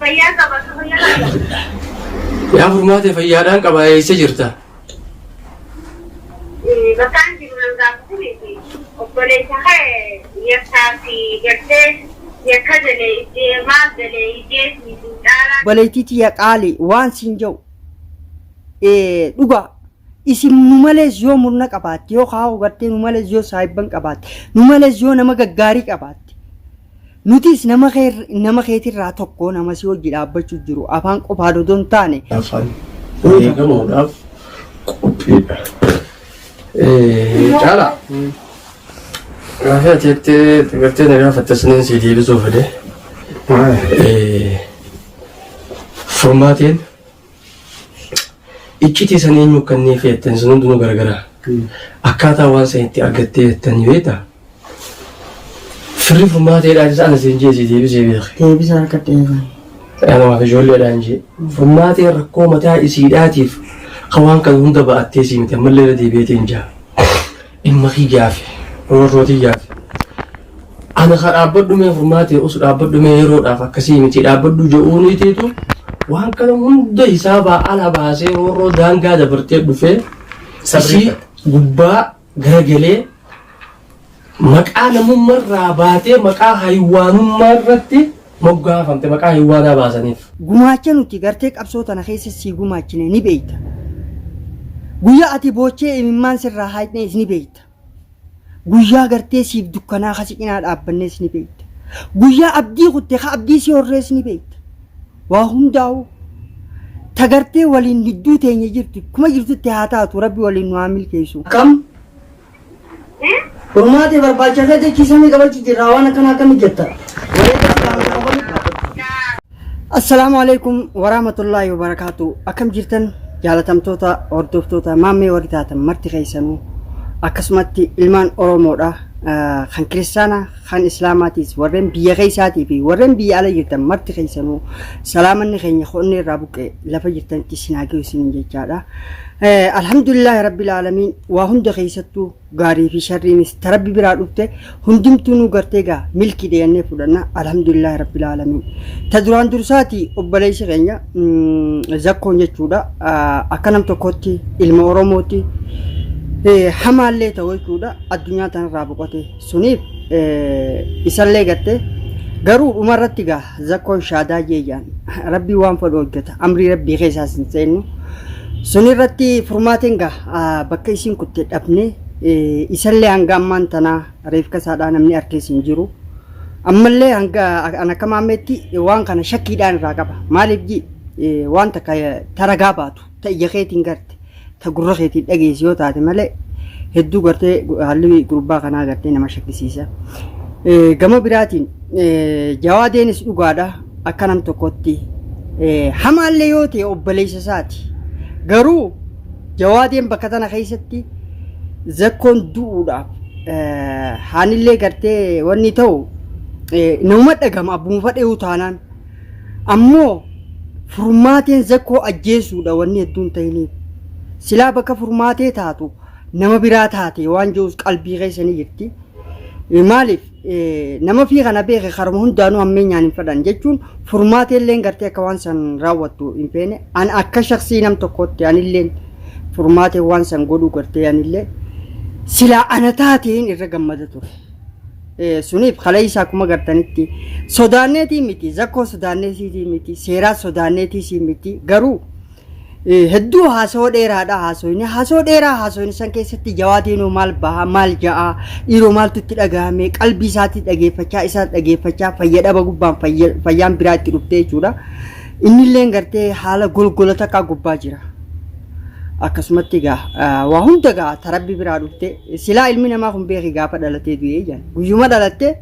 Fayyaa qaba akka fayyaa qaba. Yaa furmaate fayyaadhaan qaba eessa jirta? Bakkaan jiru nan gaafatuufi obboleessa kee yakkaa fi gartee yakka galee iddee maaf galee iddee fi dhaalaa Obboleettii tiyya qaali waan siin jedhu eh, dhugaa isin nu malees yoo murna qabaatte yoo kaa'u gartee nu malees yoo saahibban qabaatte nu malees yoo nama gaggaarii qabaatte Nutis nama kee nama keetirraa tokko nama si hojii dhaabbachuu jiru afaan qofaa dodoo hin taane afaan fayyadamuudhaaf qophiidha. Caala. Gaafa ati jettee gartee na gaafatte saniin si deebisuuf jedhee. Furmaatiin Iccitii san eenyu akka inni feetten sun hundinuu garagara. Akkaataa waan san itti argattee jettan ni beekta. Firri furmaata jedhaa isa ana siin jeesii deebisee beeke. Deebisa harkatti eegan. Anamaaf ijoolleedhaan jee. Furmaatee rakkoo mataa isiidhaatiif ka waan kana hunda ba'attee sii miti ammallee irra deebi'eetiin jaa. Dhimma kiyyaafi roorroo tiyyaaf ana ka dhaabbadhu mee furmaatee us dhaabbadhu mee yeroodhaaf akkasii miti dhaabbadhu je'uuniitiitu waan kana hunda hisaabaa ala baasee roorroo daangaa dabartee dhufee isii gubbaa garagalee maqaa namummarraa baatee maqaa haywaanummaa irratti moggaafamte maqaa hin waadaa baasaniif. Gumaacha nuti gartee qabsoo tana keessa sii gumaachine ni beekta. Guyyaa ati boochee imimmaan sirraa haayxnees ni beekta. Guyyaa gartee siif dukkanaa ka si cinaa dhaabbannees ni beekta. Guyyaa abdii kutte ka abdii si horrees ni beekta. Waa hundaa'u ta gartee waliin hidduu teenya jirtu kuma jirtutti haa taatu rabbi waliin nu haa milkeessu. Akkam Furmaate barbaacha irra jechi samii qabachu jirra waan akkana akkami jetta. Wareega silaama tokko bali qaabatu. Assalaamu alaikum waraamatullaahi wabarakaatu akkam jirtan jaalatamtoota hordoftoota maammee warri taatan marti keessanuu akkasumatti ilmaan oromoodha Ah, kan kiristaana kan islaamaatiis warreen biyya keessaatii fi warreen biyya ala jirtan marti keessanuu salaamanni keenya qonnee irraa buqqee lafa jirtanitti isin haa geessu jechaadha Alhamdulillah Rabbil Aalamiin waa hunda keessattuu gaarii fi sharriinis ta Rabbi biraa dhufte hundumtuu nu gartee gaa milki deeyannee fudhanna Alhamdulillah Rabbil Aalamiin ta duraan dursaati obboleessi keenya zakkoon jechuudha akka nam tokkotti ilma Oromootti hamaallee ta'u jechuudha addunyaa tanarraa boqotee suniif isallee gatte garuu dhuma irratti gaa zakkoon shaadaa jeeyaan rabbii waan fedhu hojjeta amrii rabbii keessaas hin seennu sun irratti furmaateen gaa bakka isiin kutte dhabne isallee hanga ammaan tanaa reefka isaadhaa namni harkees hin jiru ammallee hanga an akka maammeetti waan kana shakkiidhaan irraa qaba maaliif ji waan takka taragaa baatu ta ija keetiin garte ta gurra keetiin dhageesse yoo taate malee hedduu gartee haalli gurbaa kanaa gartee nama shakkisiisa. Eh, Gama biraatiin eh, jawaadeenis dhugaadha akka nam tokkotti eh, hamaallee yoo ta'e obboleessa isaati. Garuu jawaadeen bakka tana keessatti zakkoon du'uudhaaf eh, haanillee gartee wanni ta'u eh, nama dhagama abbuma fadhee utaanaan Ammoo furmaateen Zakkoo ajjeesuudha wanni hedduun tahiniif. Silaa bakka furmaatee taatu nama biraa taate waan je'us qalbii keessa ni jirti. Maaliif nama fii kana beeke karuma hundaanuu hammeenyaan hin fedhan jechuun furmaateelleen gartee akka waan san raawwattu hin feene. An akka shaksii nam tokkootti anilleen furmaatee waan san godhuu gartee anillee silaa ana taateen irra gammada ture. Eh, suniif kaleessa akkuma gartanitti sodaanneetii miti zakkoo sodaanneetii miti seeraa sodaanneetii miti garuu eh, hedduu haasoo dheeraadha haasoyni haasoo dheeraa haasoyni san keessatti jawaatiinuu maal baha maal ja'a dhiiroo maaltu itti dhagahame qalbii isaatii dhageeffachaa isaa dhageeffachaa fayyadhaba gubbaan fayya- fayyaan biraa itti dhuftee jechuudha innilleen gartee haala golgola takkaa gubbaa jira akkasumatti egaa waa hunda egaa tarabbi biraa dhufte silaa ilmi namaa kun beeki gaafa dhalatee du'ee jedhan guyyuma dhalattee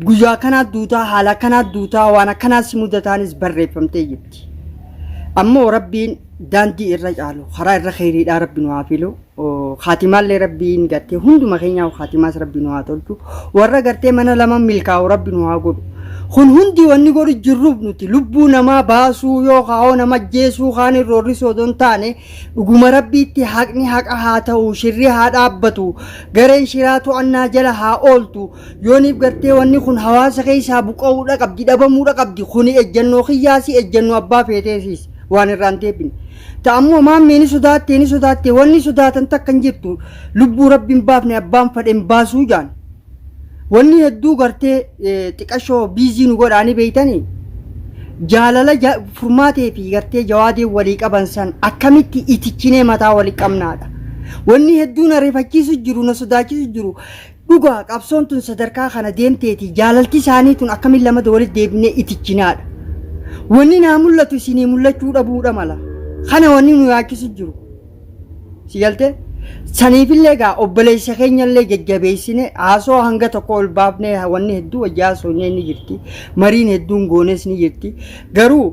guyyaa akkanaa duutaa haala akkanaa duutaa waan akkanaa si mudataanis barreeffamtee jirti. Ammoo rabbiin daandii irra caalu karaa irra keeriidhaa rabbi nu haa filu kaatimaallee rabbiin gartee hunduma keenyaa kaatimaas rabbi nu haa tolchu warra gartee mana lama milkaa'u rabbi nu haa godhu. Kun hundi wanni godhu jirruuf nuti lubbuu namaa baasuu yookaa hoo nama ajjeesuu kaaniin roorrisuu odoo hin taane dhuguma Rabbiitti haqni haqa haa ta'u, shirri haa dhaabbatu, gareen shiraa to'annaa jala haa ooltu, yooniif gartee wanni kun hawaasa keessaa buqa'uudha qabdi, dhabamuudha qabdi, kuni ejjannoo kiyyaasi, ejjannoo abbaa feeteesiis waan irraa hin deebine. Ta ammoo maammiin ni sodaattee ni sodaattee wanni sodaatan takka hin jirtu lubbuu Rabbi hin baafne abbaan fadhe hin baasuu jaan. Wanni hedduu gartee xiqashoo biizii nu godhaanii beeytanii jaalala furmaatee fi gartee jawaadee walii qaban san akkamitti itichinee mataa walii qabnaadha. Wanni hedduu na rifachiisu jiru na sodaachisu jiru dhugaa qabsoon tun sadarkaa kana deemteeti jaalalti isaanii tun akkamiin lamada walitti deebinee itichinaadha. Wanni naa mul'atu isinii mul'achuu dhabuudha mala. Kana wanni nu yaachisu jiru. Si galte? Saniifillee egaa obboleessa keenyallee jajjabeessine haasoo hanga tokko ol baafnee wanni hedduu wajjaa soonyee ni jirti. Mariin hedduun goones ni jirti. Garuu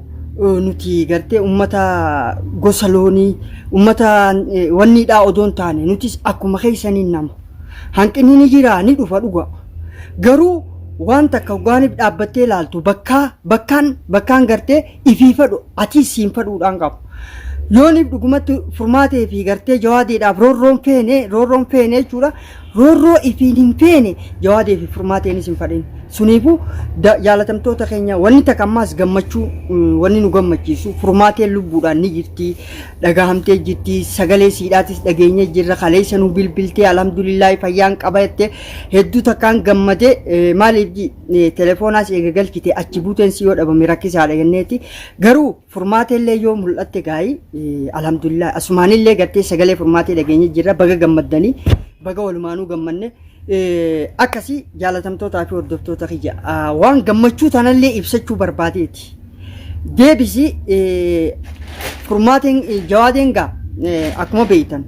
eh, nuti gartee ummata gosa loonii ummata eh, wanniidhaa odoo hin taane nutis akkuma keessanii nama. Hanqinni ni jira ni dhufa dhuga. Garuu waan takka hogaaniif dhaabbattee ilaaltu bakkaa bakkaan bakkaan gartee ifii fadhu atiis siin fadhuudhaan qabu. Yooniif dhugumatti furmaatee fi gartee jawaadeedhaaf roorroon feene roorroon feene jechuudha. Roorroo ifiin hin feene jawaadee fi furmaateenis hin fadhin. Suniifuu da- jaalatamtoota keenya wanni takka ammaas gammachuu mm, wanni nu gammachiisu furmaateen lubbuudhaan ni jirti dhagahamtee jirti sagalee siidhaatis dhageenye jirra kaleessa nu bilbiltee alhamdulillaahi fayyaan qaba jettee hedduu takkaan gammadee eh, maaliif ji- telefoonaa si eega galchite achi buuteen si yoo dhabame rakkisaadha jenneeti. Garuu furmaata illee yoo mul'atte gaa'ii alhamdulillah asumaan illee gartee sagalee furmaatee dhageenye jirra baga gammaddanii baga walumaanuu gammanne. Akkasii jaalatamtootaa fi hordoftoota kiyya waan gammachuu tanallee ibsachuu barbaadeeti. deebisi furmaatiin jawaadeen gaa akkuma beektan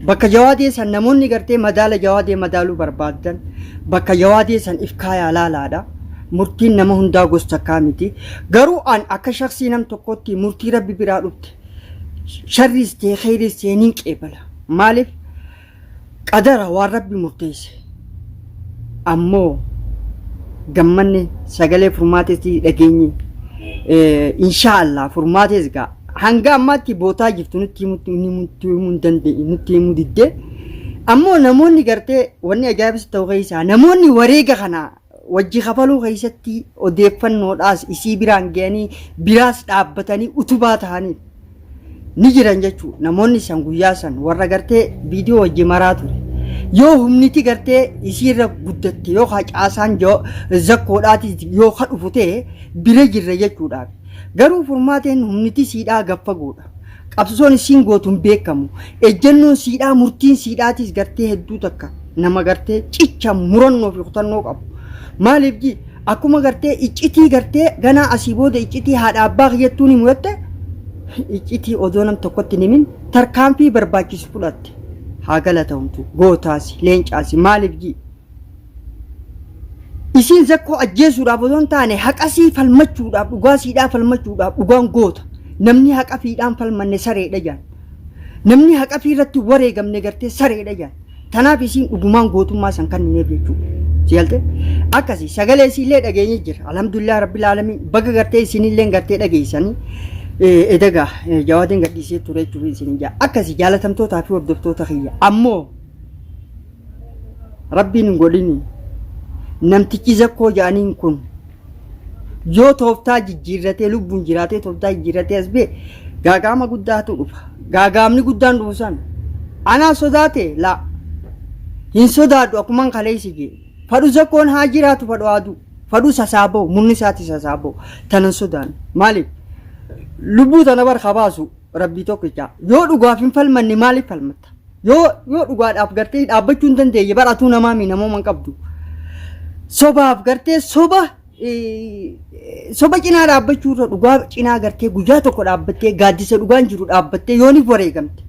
bakka jawaadee san namoonni gartee madaala jawaadee madaaluu barbaadan bakka jawaadee san if kaayaa laalaadha. Murtiin nama hundaa gosa takkaa miti. Garuu an akka shaksii nam tokkotti murtii rabbi biraa dhufte sharriis ta'e kheyriis ta'e niin qeebala. Maaliif? Qadara, waan Rabbi murteesse, ammoo gammanne sagalee furmaatees dhageenye. Inshaa Allah furmaatees gaa hanga ammaatti bootaa jirtu nutti himutti inni nutti himuu hin dandeenye nutti himuu diddee ammoo namoonni gartee wanni ajaa'ibsitti ta'u keessaa namoonni wareega kana Wajji kafaluu keessatti odeeffannoodhaas isii biraan ga'anii biraas dhaabbatanii utubaa ta'aniif ni jiran jechuudha. Namoonni san guyyaa san warra gartee viidiyoo wajji maraa ture. Yoo humniti gartee isiirra guddatte yoo kaa caasaan jo- zakkoodhaatis yoo ka dhufu ta'e bira jirra jechuudhaaf. Garuu furmaateen humniti siidhaa gaffagoodha. Qabsoon issiin gootu hin beekamu. Ejjennoon siidhaa, murtiin siidhaatiis gartee hedduu takka nama gartee cicha, murannoo fi kutannoo qabu. Maaliif ji? Akkuma gartee iccitii gartee ganaa asii booda iccitii haadha abbaa kiyyattuu ni muratte iccitii odoo nam tokkotti hin himin tarkaanfii barbaachisu fudhatte. Haa galatoomtu. Gootaasi, leencaasi. Maaliif ji? Isiin zakkoo ajjeesuudhaaf osoo hin taane haqasii falmachuudhaaf dhugaa siidhaa falmachuudhaaf dhugaan goota. Namni haqa fiidhaan falmanne sareedha jaan. Namni haqa fi irratti wareegamne gartee sareedha jaan. Tanaaf isiin dhugumaan gootummaa san kannineef jechuudha. Si galtee? Akkasii sagalee isiillee dhageenye jira. Alhamdulillah Rabbil Aalamiin baga gartee isinillee gartee dhageessanii eh, edagaa eh, jawaadeen gadhiisee ture jechuudha isin jaa. Akkasii jaalatamtootaa fi hordoftoota kiyya. Ammoo Rabbiin hin godhini. Namtichi zakkoo ja'aniin kun yoo tooftaa jijjiirratee lubbuun jiraatee tooftaa jijjiirratee as bee gaagaama guddaatu dhufa. Gaagaamni guddaan dhufu san anaa sodaate laa hin sodaadhu akkuman kaleessi jee. Fadhu zakkoon haa jiraatu fadhu haa du'u. Fadhu sasaaboo murni isaati sasaaboo tanan sodaanne. Maaliif lubbuu tana bar haa baasu. Rabbii tokkicha. Yoo dhugaaf hin falmanne maaliif falmatta? Yoo yoo dhugaadhaaf gartee dhaabbachuu hin dandeenye bara atuu namaa mii namooma hin qabdu. Sobaaf gartee soba eh, soba cinaa dhaabbachuu irra dhugaa cinaa gartee guyyaa tokko dhaabbattee gaaddisa dhugaan jiru dhaabbattee yooniif wareegamte.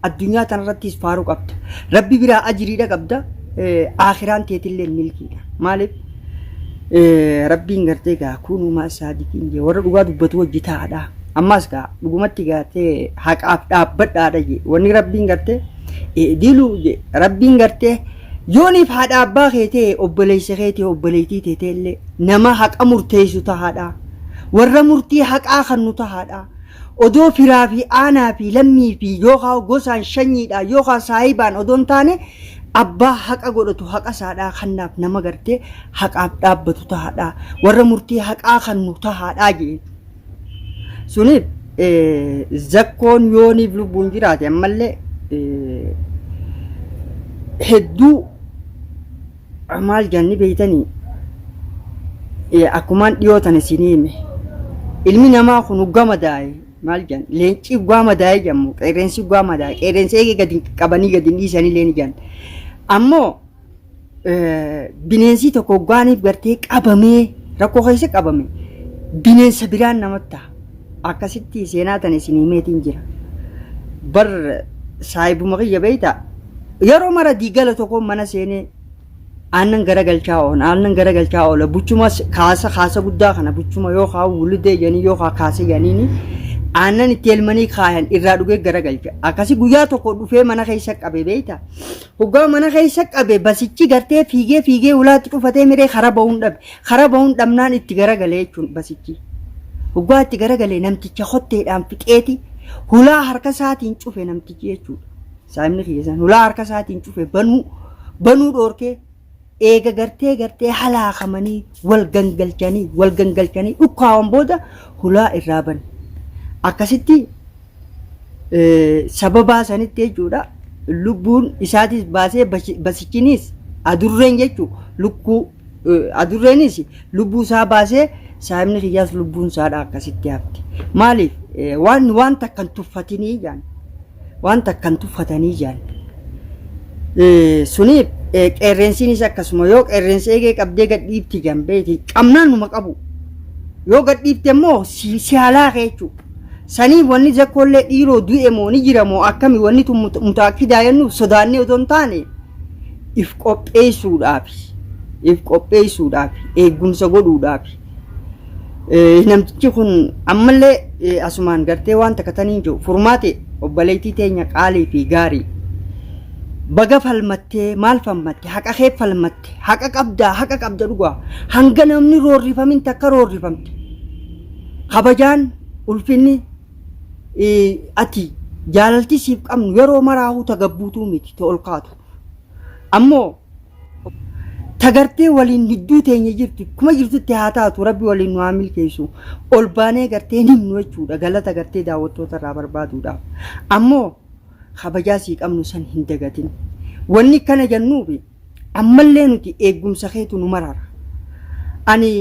Addunyaa tanarrattis faaruu qabda. Rabbi biraa ajiriidha qabda. eh, Aakiraan teetillee milkiidha. Maaliif? Rabbiin gartee gaa kuunumaa saadiqiin jee warra dhugaa dubbatu wajji taa'adha. Ammaas gaa dhugumatti gaatee haqaaf dhaabbadhaadha jee wanni rabbiin gartee diluu jee rabbiin gartee yooniif haadha abbaa keetee obboleessa keetii obboleettii teeteellee nama haqa murteessu tahaadha. Warra murtii haqaa kannu tahaadha. Odoo firaa fi aanaa fi lammii fi yookaa gosaan shanyiidhaan yookaa saahibaan odoo hin taane abbaa haqa godhatu haqa isaadhaa kannaaf nama gartee haqaaf dhaabbatu tahaadhaa warra murtii haqaa kannu tahaadhaa je'een. Suniif zakkoon yooniif lubbuun jiraate ammallee hedduu Maal janni beeytanii akkumaan dhiyoo tana isinii hime ilmi namaa kun hoggaa madaaye maal jan leencii hoggaa madaaye jammu qeerreensi hoggaa madaaye qeerreensi eegee gadi qabanii gadi hin dhiisanii leen jan ammoo bineensii tokko hoggaaniif gartee qabamee rakkoo keessa qabame bineensa biraan namatti ta'a. akkasitti seenaa tan isin himeetiin jira bar saahibuma kiyya beeyta yeroo mara diigala tokko mana seenee aannan garagalchaa oola aannan garagalchaa oola buchuma kaasa kaasa guddaa kana buchuma yoo kaa wulidee jedhanii yoo kaa kaasa jedhaniini aannan itti elmanii kaayan irraa dhugee garagalcha akkasi guyyaa tokko dhufee mana keessa qabe beeyta hoggaa mana keessa qabe basichi gartee fiigee fiigee ulaatti cufatee miree karaa ba'uun dhabe Karaa bahuun dhabnaan itti garagalee jechuun basichi. Hoggaa itti garagalee namticha kotteedhaan fixeeti hulaa harka isaatiin cufe namtichi jechuudha. Saahibni kiyya san hulaa harka isaatiin cufe banuu banuu dhoorkee eega gartee gartee halaakamanii wal gangalchanii wal gangalchanii dhukkaawan booda hulaa irraa bane. Akkasitti eh, sababaa sanitti jechuudha lubbuun isaatis baasee basi- basichinis adurreen jechuu lukkuu Adurreenis lubbuu isaa baasee saahibni kiyyaas lubbuun isaadha akkasitti hafte. Maaliif waan waan takka hin tuffatinii jaan waan takka hin tuffatanii jaan. Suniif qeerreensiinis akkasuma yoo qeerreensi eegee qabdee gadhiifti jaan beekti qabnaan numa qabu. Yoo gadhiifte immoo si haalaa kee jechuudha. Sanii wanni zakkoollee dhiiroo du'e moo ni jira moo akkami wanni tun mutaakidaa jennuuf sodaannee otoo hin taane if qopheessuudhaaf if qopheessuudhaaf eegumsa godhuudhaaf eh, namtichi kun ammallee eh, asumaan gartee waan takka taniin jiru furmaate obboleettii teenya qaalii fi gaarii baga falmattee maal falmatte haqa kee falmatte haqa qabdaa haqa qabda dhugaa hanga namni roorrifamin takka roorrifamte kabajaan ulfinni eh, ati jaalalti siif qabnu yeroo maraahu tagabbuutuu miti ta ol kaatu Ammoo tagartee waliin gidduu teenya jirti kuma jirtutti haa taatu rabbi waliin nu haa milkeessu ol baanee gartee hin himnu jechuudha galata gartee daawwattoota irraa barbaaduudhaaf ammoo kabajaa sii qabnu san hin dagatin wanni kana jannuufi ammallee nuti eeggumsa keetu nu marara ani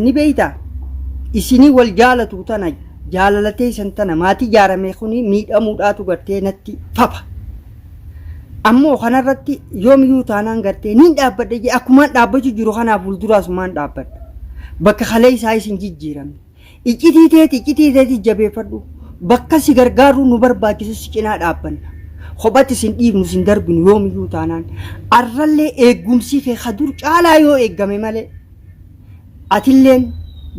ni beeyta isinii wal jaalatu tana jaalalatee isan tana maatii jaaramee kuni miidhamuudhaatu gartee natti fapa Ammoo kanarratti yoomiyuu taanaan gartee niin dhaabbadha jee akkumaan dhaabbachuu jiru kanaa fuulduraas maan dhaabbadha. Bakka kalee isaa isin jijjiiramne. Iccitii teeti iccitii teeti jabeeffadhu. Bakka si gargaaruu nu barbaachisu si cinaa dhaabbanna. Kophatti sin dhiifnu sin darbinu yoomiyuu taanaan. Arrallee eeggumsi kee ka dur caalaa yoo eeggame malee. atilleen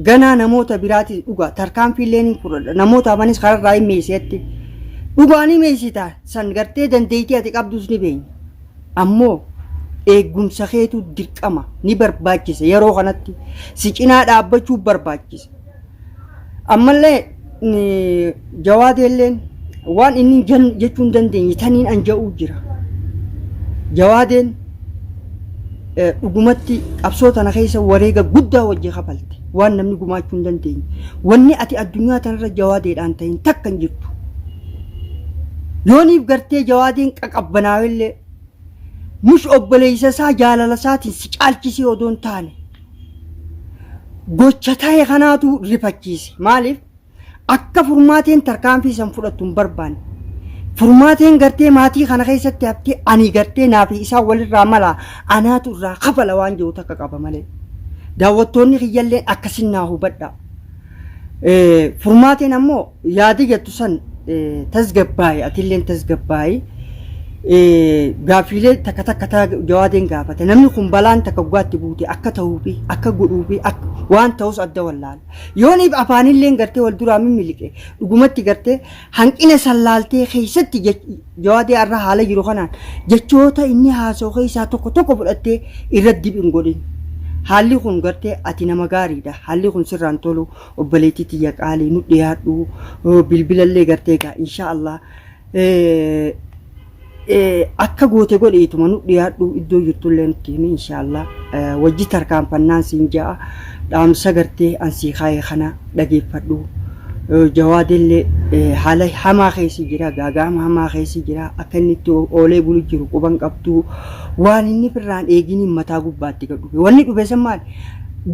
ganaa namoota biraati dhugaa tarkaanfiillee ni fudhadha namoota hafanis kararraa hin meeyseetti dhugaa ni meeysitaa san gartee dandeeytii ati qabdus ni beenya ammoo eeggumsa keetu dirqama ni barbaachisa yeroo kanatti si cinaa dhaabbachuu barbaachisa Ammallee jawaadeelleen waan inni jechuu hin dandeenye taniin an ja'uu jira. Jawaadeen dhugumatti qabsoo tana keessa wareega guddaa wajji kafalte waan namni gumaachuu hin dandeenye. Wanni ati addunyaa tanarra jawaadeedhaan ta'in takka hin jirtu. Yooniif gartee jawaadeen qaqabbanaawellee mush obboleessa isaa jaalala isaatiin si caalchisee odoo hin taane gocha ta'e kanaatu rifachiise. Maaliif? Akka furmaateen tarkaanfii san fudhattu hin barbaanne. Furmaateen gartee maatii kana keessatti haftee ani gartee naa fi isaan walirraa mala anaatu irraa kafala waan jiru takka qaba malee. Daawwattoonni kiyyalleen akkasin naa hubadha. Eh, Furmaateen ammoo Yaada jettu san tasgabbaa'i atilleen tasgabbaa'i. Gaaffiilee takka takka taa jawaadeen gaafate namni kun balaan takka guggaatti buute akka ta'uufi akka godhuufi waan ta'us adda wallaala. Yooniif afaanilleen gartee wal duraa mimmiliqe dhugumatti gartee hanqina san laaltee keessatti jawaadee arra haala jiru kanaan jechoota inni haasoo keessaa tokko tokko fudhattee irra dib hin godhin. Haalli kun gartee ati nama gaariidha haalli kun sirraan tolu Obboleettii tiyya qaalii nu dhiyaadhu bilbilallee gartee egaa insha Allah akka goote godhi ituma nu dhiyaadhu iddoo jirtullee nutti himi insha Allah wajji tarkaanfannaan siin ja'a dhaamsa gartee an sii kaayee kana dhageeffadhu jawaadellee haala hamaa keessi jira gaaga'ama hamaa keessi jira akka inni itti oolee bulu jiru quban qabdu waan inni firraan eeginiin mataa gubbaatti gad dhufe wanni dhufe san maali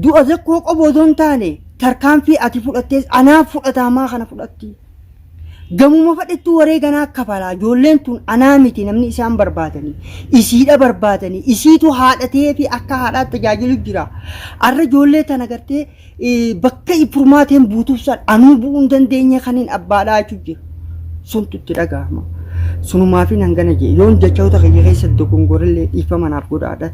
Du'a Zakkoo qofa odoo hin taane tarkaanfii ati fudhattees anaaf fudhataa maa kana fudhatti? Gamuma fadhettuu wareega naa kafalaa ijoolleen tun anaa miti namni isaan barbaadanii isiidha barbaadanii isiitu haadha ta'ee fi akka haadhaatti tajaajilu jira. Arra ijoollee tana gartee eh, bakka furmaateen buutuuf san anuu bu'uu hin dandeenye kaniin abbaadhaa jechuun jira. Suntu itti dhaga'ama. Sunumaafin hangana jee yoon jechoota kiyya keessatti dogongorellee dhiifama naaf godhaadha.